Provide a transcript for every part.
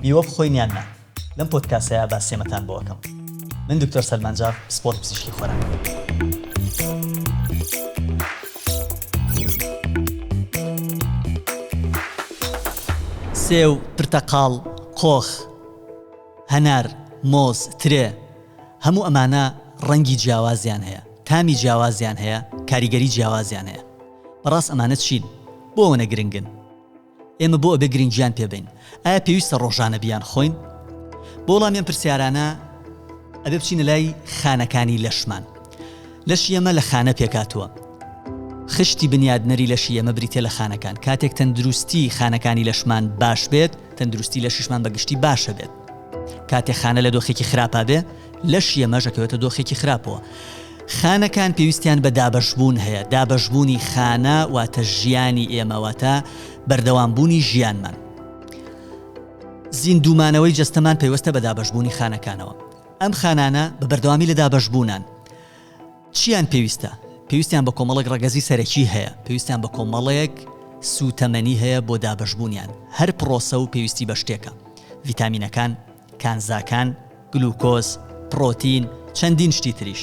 میوە بخۆین یان نا؟ لەم پۆدکاسەیا باس سێمەتان بۆ ئەکەم. من دکتۆر سەلمان جاف پسپۆڕی پزیشکی خۆراک. سێو، پرتەقاڵ، قۆخ، هەنار، مۆز، ترێ، هەموو ئەمانە ڕەنگی جیاوازیان هەیە، تامی جیاوازیان هەیە، کاریگەری جیاوازیان هەیە. بەڕاست ئەمانە چین؟ بۆ ئەوەنە گرنگن؟ ئێمە بۆ ئەبێ گرنگیان پێ بەین؟ ئایا پێویستە ڕۆژانە بیانخۆین؟ بۆ وەڵامی ئەم پرسیارانە ئەبێ بچینە لای خانەکانی لەشمان. لەشی ئێمە لە خانە پێکهاتووە. خشتی بنیادنەری لەشی ئێمە بریتییە لە خانەکان. کاتێک تەندروستی خانەکانی لەشمان باش بێت، تەندروستی لەشیشمان بە گشتی باشە بێت. کاتێ خانە لە دۆخێکی خراپا بێ، لەشی ئەمەش ئەکەوێتە دۆخێکی خراپەوە. خانەکان پێویستیان بە دابەشبوون هەیە، دابەشبوونی خانە واتە ژیانی ئێمە، واتە بەردەوامبوونی ژیانمان. زیندوومانەوەی جەستەمان پەیوەستە بە دابەشبوونی خانەکانەوە. ئەم خانانە بە بەردەوامی لە دابەشبوونان. چییان پێویستە؟ پێویستیان بە کۆمەڵێک ڕەگەزی سەرەکی هەیە، پێویستیان بە کۆمەڵێک سووتەمەنی هەیە بۆ دابەشبوونیان. هەر پڕۆسە و پێویستی بە شتێکە. ڤیتامینەکان، کانزاکان، گلوکۆز، پڕۆتین، چەندین شتی تریش.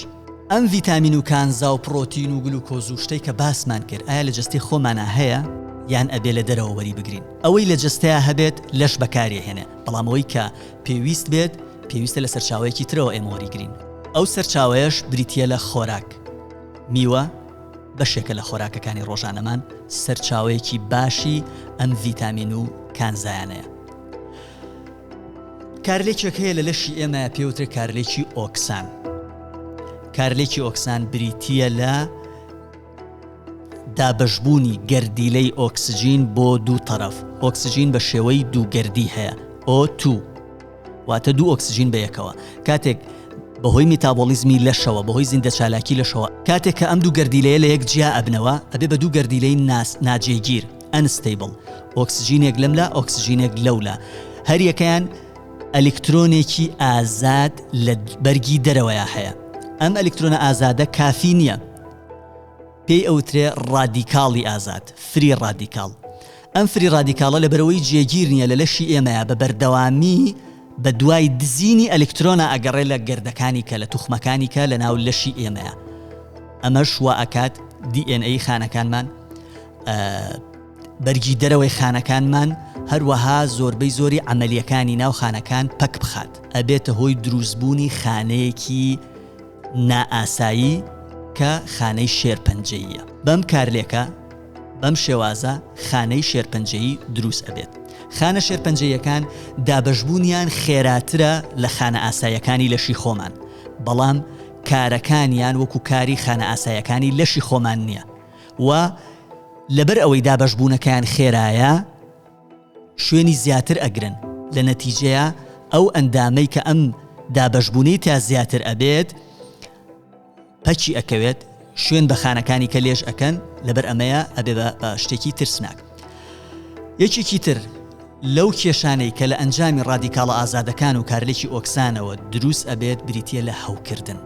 ئەم ڤیتامین و کانزا و پڕۆتین و گلوکۆز و شتەی کە باسمان کرد ئایا لە جەستەی خۆمانا هەیە یان ئەبێ لە دەرەوە وەری بگرین؟ ئەوەی لە جەستەیا هەبێت لەش بەکاری ئەهێنێ بەڵام ئەوەی کە پێویست بێت پێویستە لە سەرچاوەیەکی ترەوە ئێمە وەری گرین. ئەو سەرچاوەیەش بریتییە لە خۆراک. میوە بەشێکە لە خۆراکەکانی ڕۆژانەمان سەرچاوەیەکی باشی ئەم ڤیتامین و کانزایانەیە. کارلێکێک هەیە لە لەشی ئێمە پێوترێ کارلێکی ئۆکسان کارلێکی ئۆکسان بریتییە لە دابشبوونی گەردیلەی ئۆکسسیجین بۆ دوو تەرەف ئۆکسسیجین بە شێوەی دووگەردی هەیە ئۆ تو واتە دوو ئۆکسسیجین بە یەکەوە کاتێک بەهۆی میتابۆلیزمی لەشەوە بەهۆی زیندە چالاکی لەشەوە کاتێک کە ئەم دوو گەردیلەیە لە یەک جیا ئەبنەوە ئەبێ بە دوو گەردیلەی ناس ناجێگیر ئەنستەیبڵ، ئۆکسجینێک لەم لا ئۆکسجینێک لەو لا، هەریەکەیان ئەلیکترۆنێکی ئازاد لە بەرگی دەرەوەیە هەیە ئەم ئەلیکترۆنە ئازادە کافی نییە پێی ئەوترێ ڕادیکاڵی ئازاد فری ڕادیکاڵ ئەم فری ڕادیکاڵە لە بەرەوەی جێگیر نییە لە لەشی ئێمەیە بە بەردەوامی بە دوای دزینی ئەلکترۆنا ئەگەڕێ لە گردەکانی کە لە توخمەکانی کە لە ناو لەشی ئێمەیە ئەمەش وا ئەکات DNA خانەکانمان بەرگی دەرەوەی خانەکانمان هەروەها زۆربەی زۆری ئەمەلیەکانی ناو خانەکان پەک بخات ئەبێتە هۆی دروستبوونی خانەیەکی نائاسایی کە خانەی شێرپەنجەیە بەم کارلێکە بەم شێوازە خانەی شێرپەنجەیی دروست ئەبێت خانە شێرپەنجەیەکان دابەشبوونیان خێراترە لە خانە ئاسایەکانی لەشی خۆمان بەڵام کارەکانیان وەکو کاری خانە ئاسایەکانی لەشی خۆمان نییە و لەبەر ئەوەی دابەشبوونەکەیان خێرایە شوێنی زیاتر ئەگرن لە نەتیجەیە ئەو ئەندامەی کە ئەم دابەشبوونەی تا زیاتر ئەبێت پەچی ئەکەوێت شوێن بە خانەکانی کە لێش ئەکەن لەبەر ئەمەیە ئەبێ بە شتێکی ترسناک یەکێکی تر لەو کێشانەی کە لە ئەنجامی ڕادیکاڵە ئازادەکان و کارلێکی ئۆکسانەوە دروست ئەبێت بریتیە لە هەوکردن.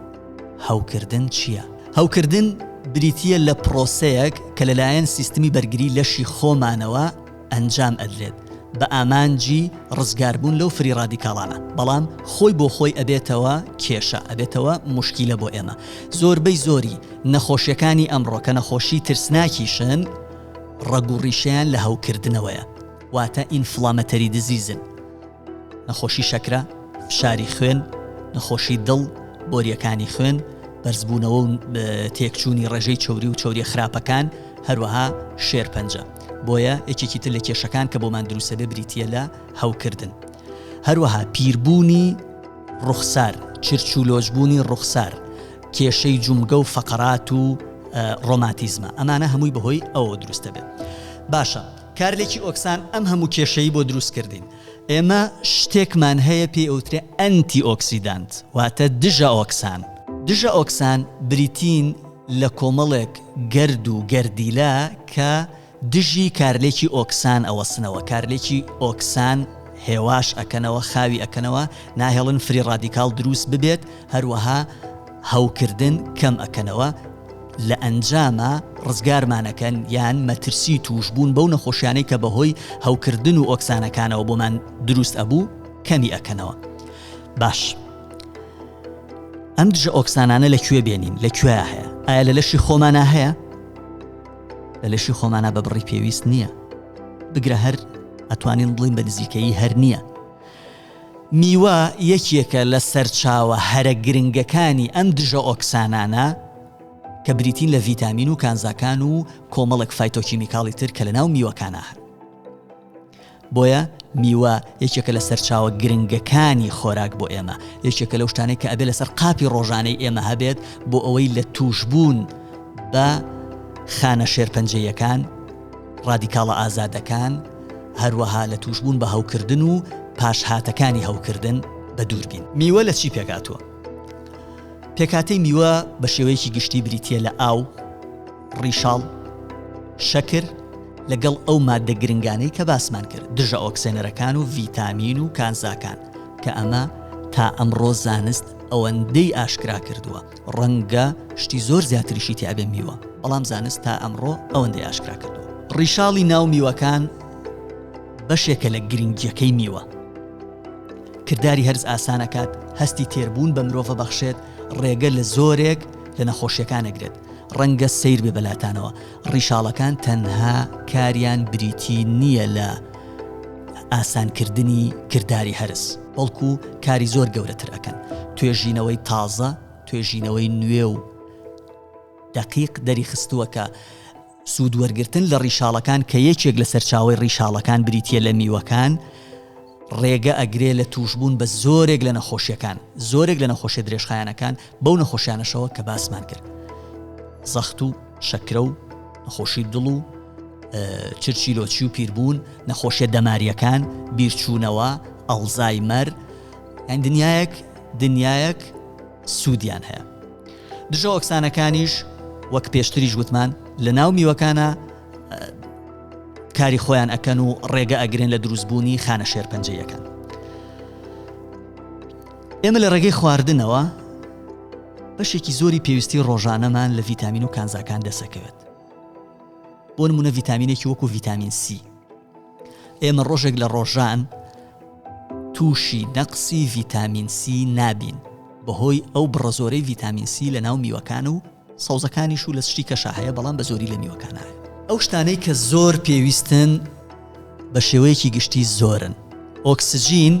هەوکردن چیە؟ هەوکردن بریتیە لە پرۆسەیەک کە لەلایەن سیستمی بەرگری لەشی خۆمانەوە ئەنجام ئەدرێت بە ئامانجی ڕزگاربوون لەو فری ڕادیکاڵانە بەڵام خۆی بۆ خۆی ئەبێتەوە کێشە ئەبێتەوە مشکیلە بۆ ئێمە زۆربەی زۆری نەخۆشیەکانی ئەمڕۆکە نەخۆشی ترسناکیشن ڕەگوڕیشیان لە هەوکردنەوەیە واتە ئینفڵامەتەری دزیزن، نەخۆشی شەکرە، فشاری خوێن، نەخۆشی دڵ، بۆرییەکانی خوێن، بەرزبوونەوە و تێکچوونی ڕێژەی چەوری و چەورییە خراپەکان، هەروەها شێرپەنجە. بۆیە یەکێکی تر لە کێشەکان کە بۆمان دروست دەبێت بریتییە لە هەوکردن. هەروەها پیربوونی ڕوخسار، چرچ و لۆچبوونی ڕوخسار، کێشەی جومگە و فەقەرات و ڕۆماتیزمە. ئەمانە هەمووی بەهۆی ئەوەوە دروست دەبێت. باشە کارلێکی ئۆکسان ئەم هەموو کێشەی بۆ دروست کردین. ئێمە شتێکمان هەیە پێی ئەوترێ ئەنتی ئۆکسیدانت واتە دژە ئۆکسان. دژە ئۆکسان بریتین لە کۆمەڵێک گەرد و گەردیلە کە دژی کارلێکی ئۆکسان ئەوەسنەوە کارلێکی ئۆکسان هێواش ئەکەنەوە خاوی ئەکەنەوە ناهێڵن فری ڕادیکاڵ دروست ببێت هەروەها هەوکردن کەم ئەکەنەوە لە ئەنجاما ڕزگارمان ئەکەن یان مەترسی تووشبوون بەو نەخۆشیانەی کە بەهۆی هەوکردن و ئۆکسانەکانەوە بۆمان دروست ئەبوو کەمی ئەکەنەوە باش ئەم دژە ئۆکسانانە لە کوێ بێنین لە کوێ هەیە ئایا لە لەشی خۆمانە هەیە لە لەشی خۆمانە بە بڕی پێویست نییە بگرە هەر ئەتوانین بڵین بە نزیکەی هەر نییە میوە یەکێکە لە سەرچاوە هەرە گرنگەکانی ئەم دژە ئۆکسانانە کە بریتین لە ڤیتامین و کانزاکان و کۆمەڵێک فایتۆکیمیکاڵی تر کە لە ناو میوەکانە هەن بۆیە میوە یەکێکە لە سەرچاوە گرنگەکانی خۆراک بۆ ئێمە یەکێکە لەو شتانێک کە ئەبێ لەسەر قاپی ڕۆژانەی ئێمە هەبێت بۆ ئەوەی لە توش بوون بە خانە شێرپەنجەیەکان ڕادیکاڵە ئازادەکان هەروەها لە تووشبوون بە هەوکردن و پاشهاتەکانی هەوکردن بە دوور بین. میوە لە چی پێکهاتووە؟ پێکهاتەی میوە بە شێوەیەکی گشتی بریتییە لە ئاو، ڕیشاڵ، شەکر، لەگەڵ ئەو ماددە گرنگانەی کە باسمان کرد، دژە ئۆکسێنەرەکان و ڤیتامین و کانزاکان، کە ئەمە تا ئەمڕۆ زانست ئەوەندەی ئاشکرا کردووە، ڕەنگە شتی زۆر زیاتریشی تیابێ میوە بەڵام زانست تا ئەمڕۆ ئەوەندەی ئاشکرا کردووە ڕیشاڵی ناو میوەکان بەشێکە لە گرنگیەکەی میوە کردداری هەرز ئاسانەکات هەستی تێربوون بە مرۆڤە بەخشێت ڕێگە لە زۆرێک لە نەخۆشیەکانەگرێت ڕەنگە سیر بێ بەلاتانەوە ڕیشاڵەکان تەنها کاریان بریتی نییە لە ئاسانکردنی کرداری هەرس، بەڵکو کاری زۆر گەورەتر ئەکەن، توێژینەوەی تازە، توێژینەوەی نوێ و دەقیق دەریخستووە کە سوودوەرگرتن لە ڕیشاڵەکان کە یەکێک لە سەرچاوەی ڕیشاڵەکان بریتییە لە میوەکان، ڕێگە ئەگرێ لە تووشبوون بە زۆرێک لە نەخۆشیەکان، زۆرێک لە نەخۆشیە درێژخایەنەکان، بەو نەخۆشیانەشەوە کە باسمان کرد زەخت و شەکرە و نەخۆشی دڵ و چرچی لۆچی و پیربوون نەخۆشیە دەماریەکان بیرچوونەوە ئەڵزای مەر ئەن دنیایەک دنیایەک سوودیان هەیە دژە ئۆکسانەکانیش وەک پێشتریش وتمان لە ناو میوەکانە کاری خۆیان ئەکەن و ڕێگە ئەگرن لە دروستبوونی خانە شێرپەنجەیەکان ئێمە لە ڕێگەی خواردنەوە بەشێکی زۆری پێویستی ڕۆژانەمان لە ڤیتامین و کانزاکان دەسەکەوێت بۆ نمونە ڤیتامینێکی وەکو ڤیتامین سی ئێمە ڕۆژێک لە ڕۆژان تووشی نەقسی ڤیتامین سی نابین بەهۆی ئەو بڕە زۆرەی ڤیتامین سی لە ناو میوەکان و سەوزەکانیش و لە سشتی کەشا هەیە بەڵام بە زۆری لە میوەکانایە ئەو شتانەی کە زۆر پێویستن بە شێوەیەکی گشتی زۆرن ئۆکسجین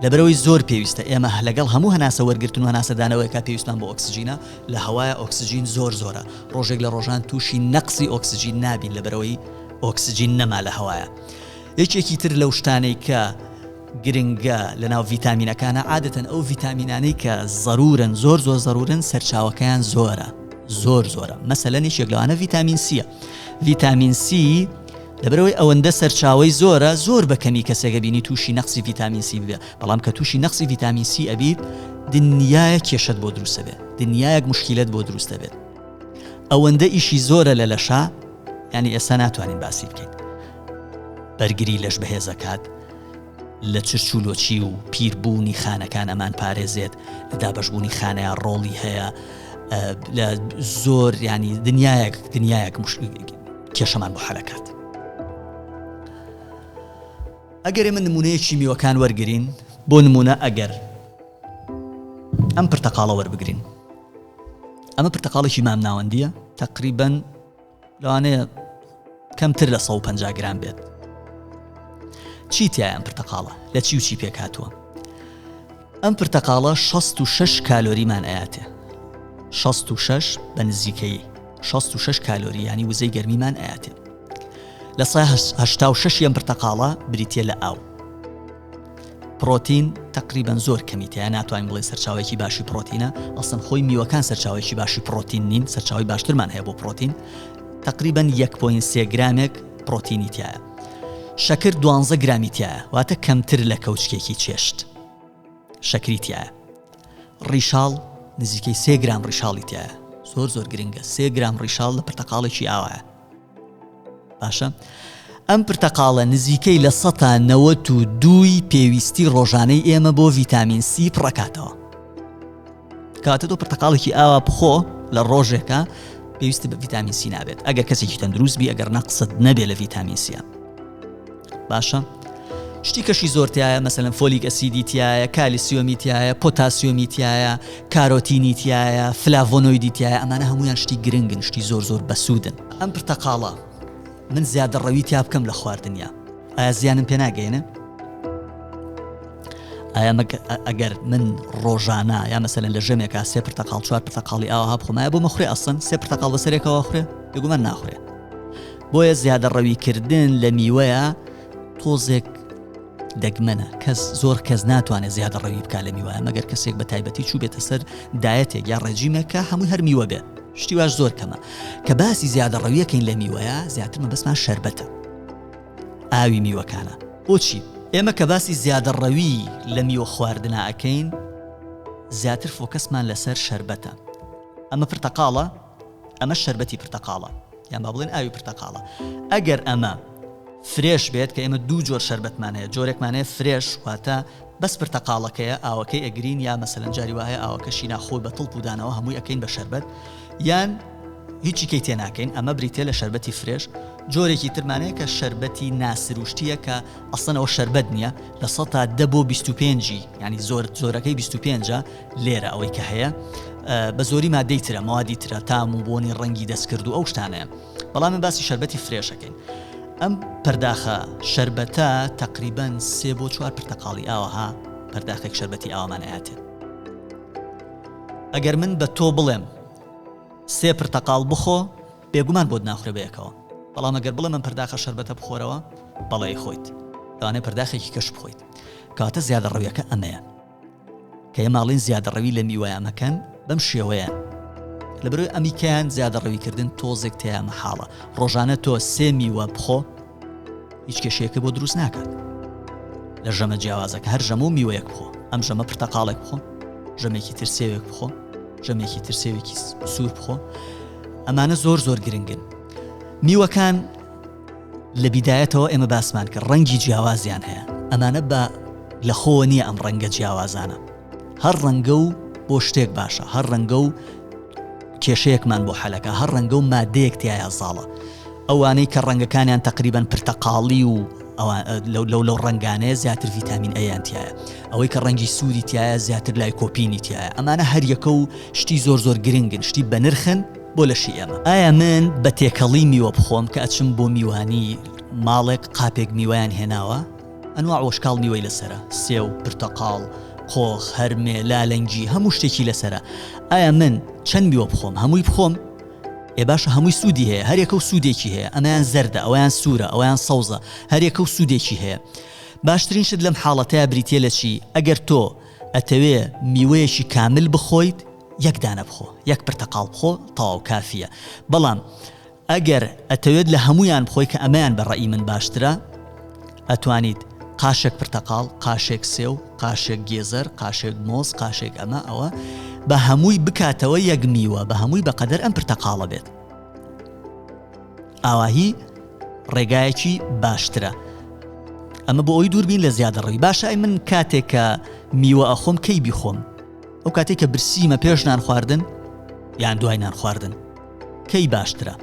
لەبەرەوەی زۆر پێویستە ئێمە لەگەڵ هەموو هەناسە وەرگتن و ناسەدانەوەیکە پێویستان بۆ ئۆکسجینە لە هەوایە ئۆکسجین زۆر زۆرە ڕۆژێک لە ڕۆژان تووشی نەقسی ئۆکسجین نابین لەبەرەوەی ئۆکسجین نەما لە هەوایە یەکێکی تر لەو شتانەی کە گرنگە لەناو ڤیتامینەکانا عادەتەن ئەو ڤیتامینانەی کە زەرورن زۆر زۆر زەرورن سەرچاوەکەیان زۆرە زۆر زۆرە مەسەلەن یەکێک لەوانە ڤیتامین سیە ڤیتامین سی لەبەرەوەی ئەوەندە سەرچاوی زۆرە زۆر بە کەمی کەسێکە بینی تووشی نەقسی ڤیتامین سی بێ بەڵام کە تووشی نەقسی ڤیتامین سی ئەبیت دنیایە کێشت بۆ دروستە بێت دنیایەک مشکلت بۆ دروستە بێت ئەوەندە ئیشی زۆرە لە لەشا ینی ئێستا ناتوانین باسی بکەین بەرگری لەش بەهێزەکات لە چرچ و لۆچی و پیربوونی خانەکان ئەمان پارێزێت لە دابشبوونی خانەیە ڕۆڵی هەیە لە زۆر ینی دنیایەک دنیایەک کێشەمان بۆ حەلەکات ئەگەر ئمە نمونەیەکی میوەکان وەرگین بۆ نمونە ئەگەر ئەم پرتەقاڵە وەربگرین ئەمە پرتەقاڵێکی مام ناوەندیە تقریبن لەوانەیە کەمتر لە 150 گرام بێت چی تیایان پرتەقاڵە لە چی و چی پێک هاتووە ئەم پرتەقاڵە 66 کالۆریمان ئااتێ 66 بە نزیکەی 66 کالۆری ینی وزەی گەرمیمان ئااتێ لە 16 یەم پرتەقاڵە بریتە لە ئاو پڕۆتین تەقریبەن زۆر کەمی تیا ناتوانین بڵێ سەرچاوێکی باشی پڕۆتینە ئەسن خۆی میوەکان سەرچاوێکی باشی پڕۆتین نین سەرچاوی باشترمان هەیە بۆ پڕۆتین تقریبان 1.3 گرامێک پرۆتینی تایە شەکر دوانزە گرامی تایە واتە کەمتر لە کەوچکێکی چێشت شەکری تایە ڕیشاڵ نزیکەی سێ گرام ڕیشاڵی تایە زۆر زۆر گرنگە سێ گرام ڕیشاڵ لە پرتەقاڵێکی ئاوایە باشە ئەم پرتەقاڵە نزیکەی لە سەتا نەوەت و دووی پێویستی ڕۆژانەی ئێمە بۆ ڤیتامین سی پڕەکاتەوە کاتە تۆ پرتەقاڵێکی ئاوا بخۆ لە ڕۆژێکە پێویستی بە ڤیتامین سی نابێت ئەگەر کەسێکی تەندروست بی ئەگەر نەقصد نەبێت لە ڤیتامین سیە باشە شتی کەشی زۆر تایە مەسەلەن فۆلیک ئەسیدی تایە کالیسیۆمی تایە پۆتاسیۆمی تایە کارۆتینی تایە فلاڤۆنۆیدی تایە ئەمانە هەمویان شتی گرنگن شتی زۆر زۆر بەسوودن ئەم پرتەقاڵە من زیادە ڕەوی تیا بکەم لە خواردنیا ئایا زیانم پێ ناگەێنە ئایا ئەگەر من ڕۆژانە یا مەسەن لە ژەمێکا سێ پرتەقاڵ چوار پرتەقاڵی ئاوها بخۆمایە بۆ مەخورێ ئەسن سێ پرتەقاڵ بەسەرێکەوە خوێ بگومان ناخورێ بۆیە زیادەڕەویکردن لە میوەیە تۆزێک دەگمەنە کەس زۆر کەس ناتوانێت زیادە ڕەوی بکە لە میوایە مەگەر کەسێک بە تایبەتی چوو بێتە سەر دایەتێک یا ڕێجیمێکە هەموو هەر میوە بێت شتی واش زۆر کەمە کە باسی زیادە ڕەویەکەین لە میوەیە زیاتر مەبەستمان شربەتە ئاوی میوەکانە بۆچی ئێمە کە باسی زیادە ڕەوی لە میوە خواردنەکەین زیاتر فۆکەسمان لەسەر شربەتە ئەمە پرتەقاڵە ئەمە شەربەتی پرتەقاڵە یان با بڵێن ئاوی پرتەقاڵە ئەگەر ئەمە فرێش بێت کە ئێمە دوو جۆر شەربەتمان هەیە جۆرێکمان هەیە فرێش واتە بەس پرتەقاڵەکەیە ئاوەکەی ئەگرین یا مەسەن جاری وایە ئاوەکەشی ناخۆی بە تڵ پودانەوە هەمووی ئەەکەین بە شەربەت یان هیچی کەی تێناکەین ئەمە بریتێ لە شربەتی فرێش جۆرێکی ترمانەیە کە شربەتی ناسروشتیە کە ئەسنەوە شربەت نییە لە سە تا دە بۆ 25 ینی زۆر زۆرەکەی 25 لێرە ئەوەی کە هەیە بە زۆری مادەی ترە موادی ترە تام و بۆنی ڕەنگی دەستکرد و ئەو شتانەیە بەڵام من باسی شربەتی فرێشەکەین ئەم پەرداخە شربەتە تقریبان سێ بۆ چوار پرتەقاڵی ئاوها پەرداخێک شربەتی ئاوامان ئااتێ ئەگەر من بە تۆ بڵێم سێ پرتەقال بخۆ بێگومان بۆت ناخورە بەیەکەوە بەڵام ئەگەر بڵێ من پرداخە شربەتە بخۆرەوە بەڵێ خۆیت دانێ پرداخێکی کەش بخۆیت کاتە زیادە ڕویەکە ئەمەیە کە ئێماڵین زیادەڕەوی لە میوەیان مەکەن بەم شێوەیە لەبەرەوەی ئەمیکەیان زیادەڕەویکردن تۆزێک تیا مەحاڵە ڕۆژانە تۆ سێ میوە بخۆ هیچ کێشەیەکە بۆ دروست ناکات لە ژەمە جیاوازەکە هەر ژەمە و میوەیەک بخۆ ئەم ژەمە پرتەقاڵێک بخۆ ژەمێکی ترسێوێک بخۆ ژەمێکی ترسێوێکی سوور بخۆ ئەمانە زۆر زۆر گرنگن میوەکان لە بیدایەتەوە ئێمە باسمان کرد ڕەنگی جیاوازیان هەیە ئەمانە بە لە خۆوە نییە ئەم ڕەنگە جیاوازانە هەر ڕەنگە و بۆ شتێک باشە هەر ڕەنگە و کێشەیەکمان بۆ حەلەکە هەر ڕەنگە و مادەیەک تایە زاڵە ئەوانەی کە ڕەنگەکانیان تقریبان پرتەقاڵی و لەو لەو لەو ڕنگانەیە زیاتر ڤیتامین ئەیانتیایە ئەوەی کە ڕەنگی سووری تایە زیاتر لای کۆپینی تایە ئەمانە هەریەکە و شتی زۆر زۆر گرنگن شتی بەنرخن بۆ لەشی ئێمە؟ ئایا من بە تێکەڵی میوە بخۆم کە ئەچم بۆ میوانی، ماڵێک قاپێک میوەیان هێناوە، ئەنواع وشکاڵ میوەی لەسەرە، سێو، پرتەقاڵ، قۆخ، هەرمێ، لالەنگی، هەموو شتێکی لەسەرە، ئایا من چەند میوە بخۆم؟ هەمووی بخۆم؟ ئێ باشە هەمووی سوودی هەیە، هەریەکە و سوودێکی هەیە، ئەمەیان زەردە، ئەوەیان سوورە، ئەوەیان سەوزە، هەریەکە و سوودێکی هەیە. باشترین شت لەم حاڵەتەیا بریتییە لە چی؟ ئەگەر تۆ ئەتەوێ میوەیەکی کامل بخۆیت، یەک دانە بخۆ یەک پرتەقاڵ بخۆ تەواو کافیە بەڵام ئەگەر ئەتەوێت لە هەمویان بخۆی کە ئەمەیان بە ڕێی من باشترە ئەتوانیت قاشێک پرتەقاڵ قاشێک سێو قاشێک گێزەر قاشێک مۆز قاشێک ئەمە ئەوە بە هەمووی بکاتەوە یەک میوە بە هەمووی بەقەدەر ئەم پرتەقاڵە بێت ئاواهی ڕێگایەکی باشترە ئەمە بۆ ئەوی دووربین لە زیادەڕووی باشای من کاتێکە میوە ئەخۆم کەی بیخۆم ئەو کاتێک کە برسیمە پێش نان خواردن یان دوای نان خواردن کەی باشترە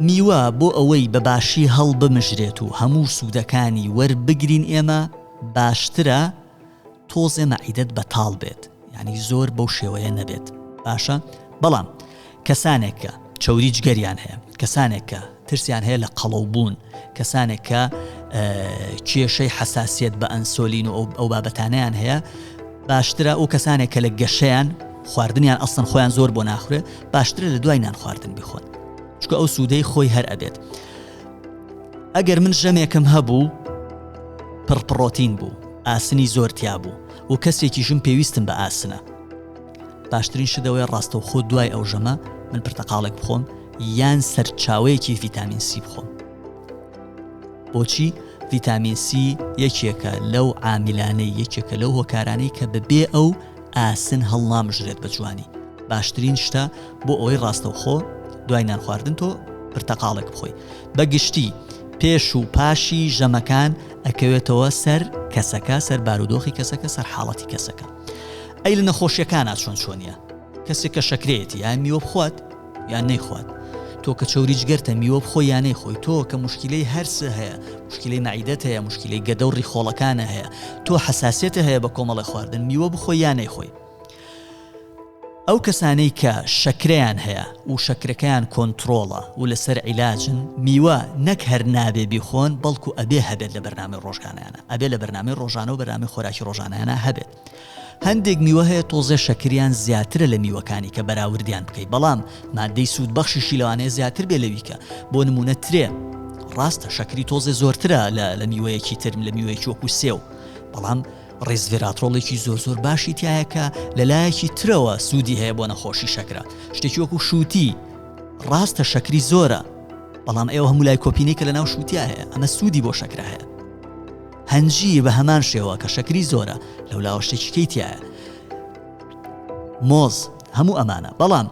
میوە بۆ ئەوەی بە باشی هەڵ بمژرێت و هەموو سوودەکانی وەربگرین ئێمە باشترە تۆزێ مەعیدت بەتاڵ بێت ینی زۆر بەو شێوەیە نەبێت باشە بەڵام کەسانێک کە چەوری جگەریان هەیە، کەسانێک کە ترسیان هەیە لە قەڵەو بوون، کەسانێک کە کێشەی حەساسیت بە ئەنسۆلین و ئەو بابەتانیان هەیە، باشترە ئەو کەسانێک کە لە گەشەیان خواردنیان ئەسن خۆیان زۆر بۆ ناخورێ باشترە لە دوای نان خواردن بخۆن چکە ئەو سوودەی خۆی هەر ئەبێت ئەگەر من ژەمێکم هەبوو پڕپڕۆتین بوو ئاسنی زۆرتیا بوو و کەسێکیشم پێویستم بە ئاسنە باشترین شت ئەوەیە ڕاستەوخۆ دوای ئەو ژەمە من پرتەقاڵێک بخۆم یان سەرچاوەیەکی ڤیتامین سی بخۆم بۆچی ڤیتامین سی یەکێکە لەو عامیلانەی یەکێکە لەو هۆکارانەی کە بەبێ ئەو ئاسن هەڵنامژرێت بە جوانی باشترین شتە بۆ ئەوەی ڕاستەوخۆ دوای نان خواردن تۆ پرتەقاڵێک بخۆی بە گشتی پێش و پاشی ژەمەکان ئەکەوێتەوە سەر کەسەکە سەر بارودۆخی کەسەکە سەر حاڵەتی کەسەکە ئەی لە نەخۆشیەکانا چۆن چۆنیە کەسێک کە شەکرێتی یان میوە بخوات یان نەیخوات تۆ کە چوری جگەرتە میوە بخۆ یانەی خۆی تۆ کە مشکلەی هەرسە هەیە مشکلی مەعیدەت هەیە مشکلی گەدە و ڕیخۆڵەکانە هەیە تۆ حساسێتە هەیە بە کۆمەڵی خواردن میوە بخۆ یانەی خۆی ئەو کەسانەی کە شەکرەیان هەیە و شەکرەکەیان کۆنترۆڵە و لەسەر عیلاجن، میوە نەک هەر نابێ بیخۆن، بەڵکو ئەبێ هەبێت لە بەرنامەی ڕۆژگانەیانا. ئەبێ لە بەرنامەی ڕۆژانە و بەرنامەی خۆراکی ڕۆژانەیانا هەبێت. هەندێک میوە هەیە تۆزێ شەکریان زیاترە لە میوەکانی کە بەراوردیان بکەی، بەڵام ماددەی سوودبەخشیشی لەوانەیە زیاتر بێ لەوی کە، بۆ نموونە ترێ، ڕاستە شەکری تۆزێ زۆرترە لە لە میوەیەکی تر، لە میوەیەکی وەکو سێو، بەڵام، ڕیزڤێراترۆڵێکی زۆر زۆر باشی تایە کە لەلایەکی ترەوە سوودی هەیە بۆ نەخۆشی شەکرە شتێکی وەکو شووتی ڕاستە شەکری زۆرە بەڵام ئێوە هەموو لای کۆپینێکە لە ناو شووتیا هەیە ئەمە سوودی بۆ شەکرە هەیە هەنجی بە هەمان شێوە کە شەکری زۆرە لەو لاوەشتێکیکەی تایە مۆز هەموو ئەمانە بەڵام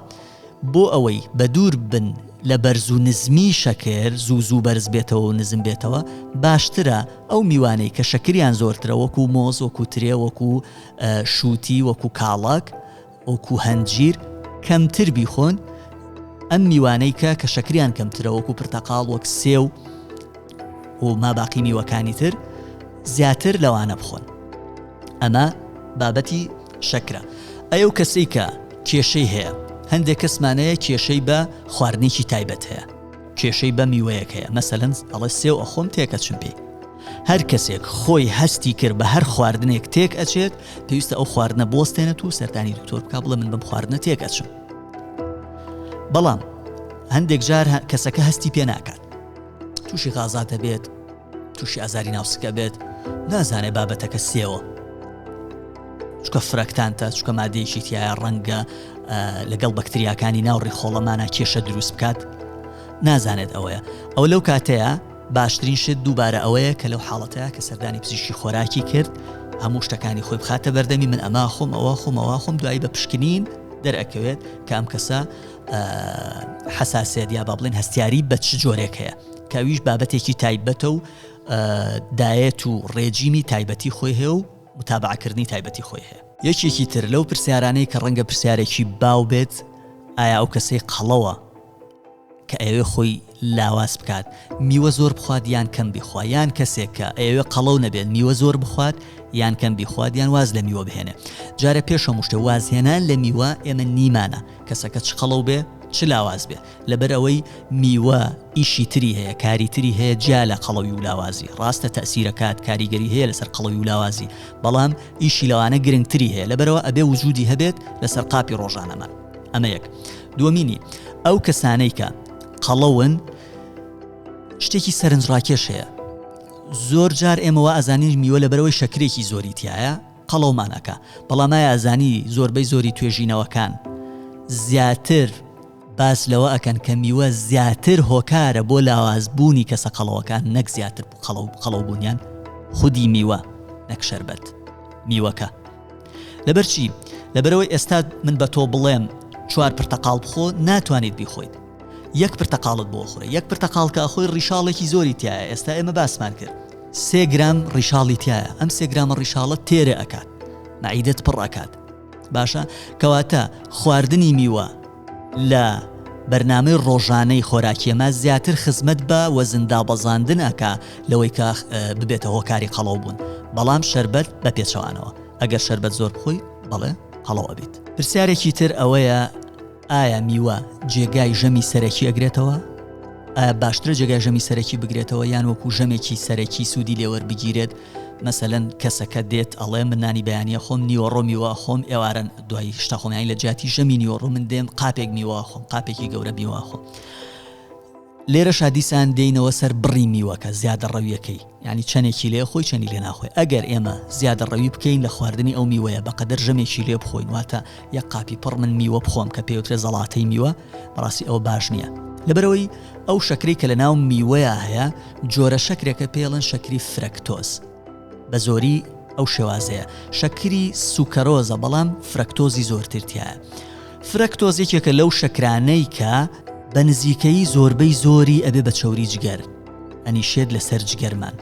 بۆ ئەوەی بەدوور بن لە بەرز و نزمی شەکر، زوو زوو بەرز بێتەوە و نزم بێتەوە، باشترە ئەو میوانەی کە شەکریان زۆرترە وەکوو مۆز، وەکوو ترێ، وەکوو شووتی، وەکوو کاڵەک، وەکوو هەنجیر کەمتر بیخۆن، ئەم میوانەی کە کە شەکریان کەمترە وەکوو پرتەقاڵ، وەک سێو، و ماباقی میوەکانی تر زیاتر لەوانە بخۆن ئەمە بابەتی شەکرە ئەی ئەو کەسەی کە کێشەی هەیە هەندێک کەسمانەیە کێشەی بە خواردنێکی تایبەت هەیە کێشەی بە میوەیەک هەیە مەسەلەن ئەڵێ سێو ئەخۆم تێکەچم پێی هەر کەسێک خۆی هەستی کرد بە هەر خواردنێک تێک ئەچێت پێویستە ئەو خواردنە بۆستێنێت و سەردانی دکتۆر بک بڵێ من بم خواردنە تێک ئەچم بەڵام هەندێک جار کەسەکە هەستی پێ ناکات تووشی غازا دەبێت تووشی ئازاری ناوسکە بێت نازانێت بابەتەکە سێوە چکە فرەکتانتە چکە مادەیەکی تایە ڕەنگە لەگەڵ بەکتریاکانی ناو ڕیخۆڵەمانە کێشە دروست بکات نازانێت ئەوەیە ئەو لەو کاتەیە باشترین شت دووبارە ئەوەیە کە لەو حاڵەتەیە کە سەردانی پزیشکی خۆراکی کرد هەموو شتەکانی خۆی بخاتە بەردەمی من ئەما خۆم ئەوە خۆمەوە خۆم دوایی بە پشکنین دەرەکەوێت کام کەسە حەساسێت یا با بڵێن هەستیاری بە چ جۆرێک هەیە کەویش بابەتێکی تایبەتە و دایەت و ڕێجیمی تایبەتی خۆی هەیە و متابعکردنی تایبەتی خۆی هەیە یەکێکی تر لەو پرسیارانەی کە ڕەنگە پرسیارێکی باو بێت ئایا ئەو کەسەی قەڵەوە کە ئەوێ خۆی لاواز بکات میوە زۆر بخوات یان کەم بیخوا یان کەسێک کە ئەیەوێ قەڵەو نەبێت میوە زۆر بخوات یان کەم بیخوات یان واز لە میوە بهێنێ جارە پێش هەموو شتێ وازهێنان لە میوە ئێمە نیمانە کەسەکە چ قەڵەو بێ چ لاواز بێ لەبەر ئەوەی میوە ئیشی تری هەیە کاری تری هەیە جیا لە قەڵەوی و لاوازی ڕاستە تەسیرەکات کاریگەری هەیە لەسەر قەڵەوی و لاوازی بەڵام ئیشی لەوانە گرنگتری هەیە لەبەرەوە ئەبێ وجودی هەبێت لەسەر قاپی ڕۆژانەمان ئەمە یەک دومینی ئەو کەسانەی کە قەڵەون شتێکی سەرنج ڕاکێش هەیە زۆر جار ئێمەوە ئەزانین میوە لە بەرەوەی شەکرێکی زۆری تایە قەڵەومانەکە بەڵامای ئازانی زۆربەی زۆری توێژینەوەکان زیاتر باس لەوە ئەکەن کە میوە زیاتر هۆکارە بۆ لاوازبوونی کەسە قەڵەوەکان نەک زیاتر قەڵەو قەڵەوبوونیان خودی میوە نەک شربەت میوەکە لەبەر چی؟ لەبەرەوەی ئێستا من بە تۆ بڵێم چوار پرتەقاڵ بخۆ ناتوانیت بیخۆیت یەک پرتەقاڵت بۆ خۆی یەک پرتەقاڵکە خۆی ڕیشاڵێکی زۆری تایە ئێستا ئێمە باسمان کرد سێ گرام ڕیشاڵی تایە ئەم سێ گرامە ڕیشاڵە تێرە ئەکات نعیدت پڕ ئەکات باشە کەواتە خواردنی میوە لە بەرنامەی ڕۆژانەی خۆراکیەما زیاتر خزمەت بە وەزندابەزاندن ئەکا لەوەی کە ببێتە هۆکاری قەڵەو بوون بەڵام شربەت بە پێچەوانەوە ئەگەر شربەت زۆر بخۆی بەڵێ قەڵەوە بێت پرسیارێکی تر ئەوەیە ئایا میوە جێگای ژەمی سەرەکی ئەگرێتەوە باشترە جێگای ژەمی سەرەکی بگرێتەوە یان وەکو ژەمێکی سەرەکی سوودی لێوەربگیرێت مەسەلەن کەسەکە دێت ئەڵێ من نانی بەیانیە خۆم نیوەڕۆ میوە ئەخۆم ئێوارەن دوای شتا خۆم یانی لە جیاتی ژەمی نیوەڕۆ من دێم قاپێک میوە ئەخۆم قاپێکی گەورە میوە ئەخۆم لێرە شادیسان دێینەوە سەر بڕی میوەکە زیادە ڕەویەکەی ینی چەندێکی لێ خۆی چەنی لێ ناخۆی ئەگەر ئێمە زیادە ڕەوی بکەین لە خواردنی ئەو میوەیە بەقەدەر ژەمێکی لێ بخۆین واتە یە قاپی پڕ من میوە بخۆم کە پێوترێ زەڵاتەی میوە بەڕاستی ئەوە باش نییە لەبەرەوەی ئەو شەکرەی کە لە ناو میوەیە هەیە جۆرە شەکرێکە پێڵن شەکری فرەکتۆز بە زۆری ئەو شێوازەیە شەکری سوکەرۆزە بەڵام فرەکتۆزی زۆرترتیە فرەکتۆز یەکێکە لەو شەکرانەی کە بە نزیکەی زۆربەی زۆری ئەبێ بە چەوری جگەر ئەنی شێت لەسەر جگەرمان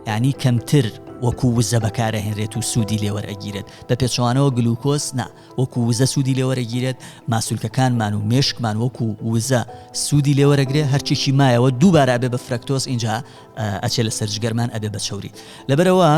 ینی کەمتر وەکو وزە بەکارەهێنرێت و سوودی لێوەرەگیرێت بە پێچوانەوە گلوکۆس نا وەکو وزە سوودی لێوەرەگیرێت، ماسولکەکانمان و مێشکمان وەکو وزە سوودی لێوەرەگرێ هەرچێکی مایەوە دووبارە ئەبێ بە فرەکتۆز ئینجا ئەچێ لە سەرجگەرمان ئەبێ بە چەوری لەبەرەوە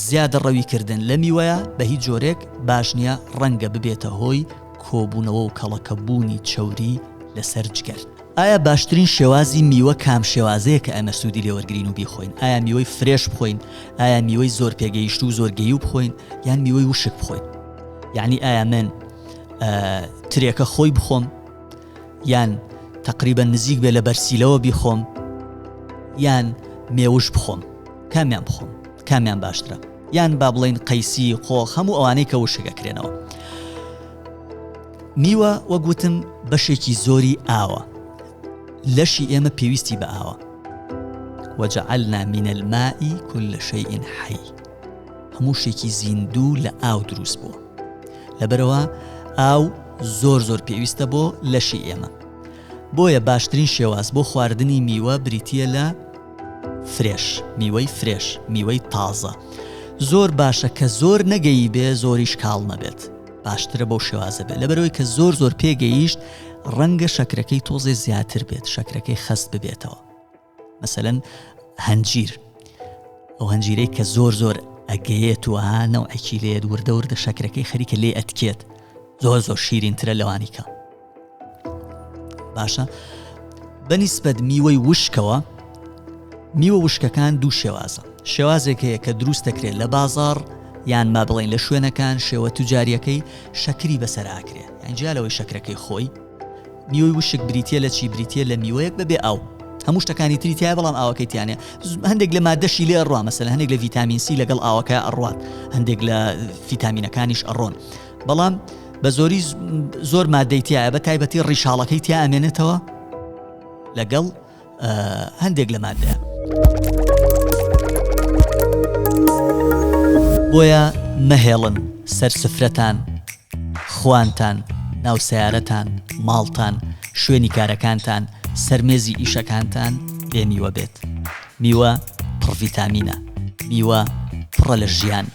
زیادە ڕەوی کردن لە میوەیە بە هیچ جۆرێک باش نییە ڕەنگە ببێتە هۆی کۆبوونەوە و کەڵەکەبوونی چەوری لەسەر جگەر. ئایا باشترین شێوازی میوە کام شێوازەیە کە ئێمە سوودی لێوەرگرین و بیخۆین ئایا میوەی فرێش بخۆین ئایا میوەی زۆر پێگەیشت و زۆر گەی و بخۆین یان میوەی وشک بخۆین یعنی ئایا من ترێکە خۆی بخۆم یان تقریبا نزیک بێ لە بەرسیلەوە بیخۆم یان مێوش بخۆم کامیان بخۆم کامیان باشترە یان با بڵین قەیسی قۆخ هەموو ئەوانەی کە وشەکەکرێنەوە میوە وەک وتم بەشێکی زۆری ئاوە لەشی ئێمە پێویستی بە ئاوە وەجعلنا من الماء كل شيء حي هەموو شتێکی زیندوو لە ئاو دروست بووە لەبەرەوە ئاو زۆر زۆر پێویستە بۆ لەشی ئێمە بۆیە باشترین شێواز بۆ خواردنی میوە بریتە لە فرێش میوەی فرێش میوەی تازە زۆر باشە کە زۆر نەگەی بێ زۆریش کاڵ نەبێت باشترە بەو شێوازە بێت لەبەرەوەی کە زۆر زۆر پێگەیشت ڕەنگە شەکرەکەی تۆزێ زیاتر بێت شەکرەکەی خەست ببێتەوە مەسەەن هەنجیر ئەو هەنجیرەی کە زۆر زۆر ئەگەیەت و هانەوەکی لێت وردە وردە شەکرەکەی خەریکە لێ ئەتکێت زۆر زۆر شیرینترە لەوانیکە باشە بەنیسبەت میوەی وشکەوە میوە وشکەکان دوو شێوازە شێوازێک هەیە کە دروست دەکرێت لە بازار یان ما بڵین لە شوێنەکان شێوە توجاریەکەی شەکری بەسەر ئاکرێت ئەنجیا لەوەی شەکرەکەی خۆی میوەی وشک بریتە لە چی بریتە لە میوەیەک بەبێ ئەو هەموو شتەکانی تری تای بەڵام ئاوەکەیتیانە هەندێک لە مادەشی لێ ڕوا مەسەل هەندێک لە ڤیتامینسی لەگەڵ ئاوەکە ئەڕوات هەندێک لە فیتامینەکانیش ئەڕۆن بەڵام بە زۆری زۆر مادەی تایە بە تایبەتی ڕیشاڵەکەی تیا ئەمێنێتەوە لەگەڵ هەندێک لە مادە بۆیە مەهێڵن سەر سفرەتان خوانتان ناو سیارەتان ماڵتان شوێنی کارەکانتان سەرمێزی ئیشەکانتان بێ میوە بێت میوە پڕڤیتامینە میوە پڕە لە ژیان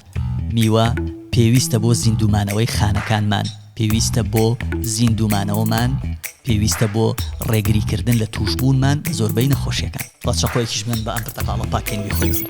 میوە پێویستە بۆ زیندوومانەوەی خانەکانمان، پێویستە بۆ زیندوومانەوەمان، پێویستە بۆ ڕێگریکردن لە تووشبوونمان بە زۆربەی نەخۆشیەکان. با چەقۆیەکیش بنێن بە ئەم پرتەقاڵە پاکێنوی خوێنم.